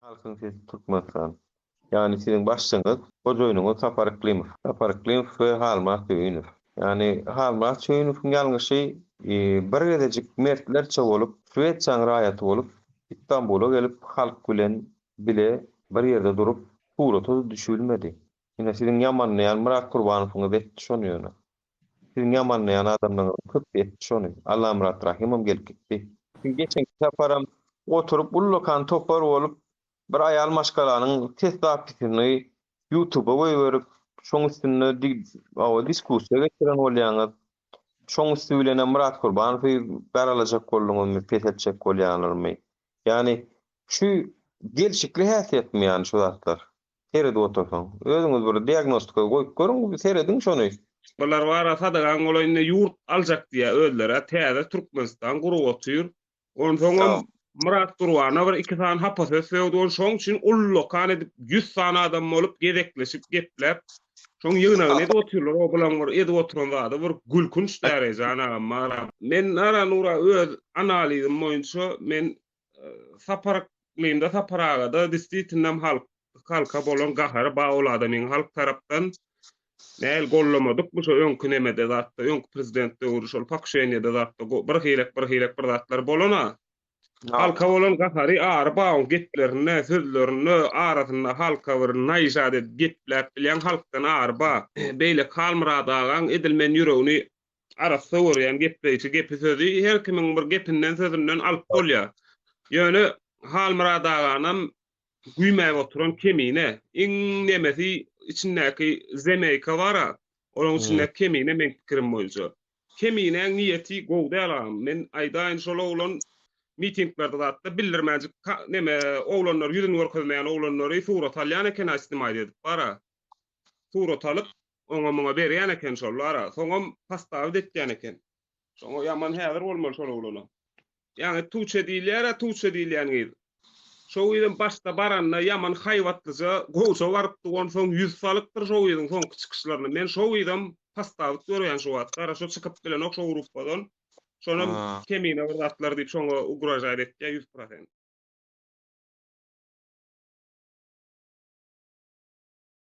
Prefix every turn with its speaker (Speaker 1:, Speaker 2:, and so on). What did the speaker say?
Speaker 1: Halkyň sesi Türkmenistan. Ýany siziň başlygyňyz, hojaýynyňyz Sapar Yklimow. Sapar Yklimow we Halmyrat Söýünow. Ýany Halmyrat Söýünowyň ýalňyşy bir gezejik mertlerçe bolup, Swesiýaň raýaty bolup, Istanbula gelip halk bilen bile bir ýerde durup, surata-da düşübilmedi. Ine siziň ýamanlaýan Myrat Gurbanowyňyz etdi şony ýöne. Siziň ýamanlaýan adamlaňyzyň köpüsi etdi şony. Allamyrat Rahymam gelip gitdi. Geçenki saparam oturyp ullakan topar bolup bir aýal maşgalanyň ses zapisyny ýutuba goýberip, şoň üstünde diskussiýa geçiren bolýaňyz. Şoň üsti bilenem Myrat Kurbanowy garalajak bolduňyzmy, pes etjek bolýaňyzmy? Ýagny şu gelşikli häsiýetmi ýagny şu zatlar? seredip otursaň. Özüňiz bir diagnostika goýup görüň, serediň şony. Bular bara
Speaker 2: sadagaň golaýynda ýurt aljak diýýär özleri-ä täze Türkmenistan gurup otyr. Onsoňam Myrat Gurbana bir iki sany hapa söz sögdüň şoň üçin ullakan edip ýüz sany adam bolup gezekleşip gepläp şoň ýygnagyny edip otyrlar o bulan bir edip oturan zady bir gülkünç däreje jan agam maňa men Nara Nura öz analizim boýunça men Sapar aklymda Sapar agada disditinem halk halka bolan gahary ba ol adamyň halk tarapdan Näl gollamadykmy şo öňki nemede zatda öňki prezident döwri şol pakuşenýede zatda go bir hilek bir hilek bir zatlar bolan a halka bolan gahary ary ba oň geplerinde sözlerinde arasynda halka bir naýyşat edip gepläp bilýän halkdan ary ba beýleki halmyrat agaň edil men ýüregini arassa görýän gepleýşi, gepi-sözi her kimiň bir gepinden, sözünden alyp bolýar. Ýöne Halmyrat aganam güýmäp oturan kemine. Iň nemesi içindäki zemeýka bar-a, olaň içindäki kemine meň pikirim boýunça. Keminäň niýeti gowy däl agam. Men aýdaýyn, şol oglan mitinglerde zat-da bildirmänjik neme oglanlar ýüzüni görkezmeýän oglanlary surat alýan eken-a snimait edip bar-a. Surat alyp, Oňa-muňa berýän eken şollara. Soňam pastavit etýän eken. Şoňa ýaman häzir bolmaly şol oglana. Ýaňy Tuçe diýilýär-ä, Tuçe diýilýän gyz. Şo gyzam başda baranda ýaman haýbatlyja, gowja barypdy, onsoň ýüz salypdyr şo gyzyň soňky çykyşlaryna. Men şo gyzam pastavit görýän şu wagtky ara. Şo çykyp bilenok şo gruppadan. Şonam kemine bir zatlar diýip şoňa ugražaýt etýär ýüz prosent.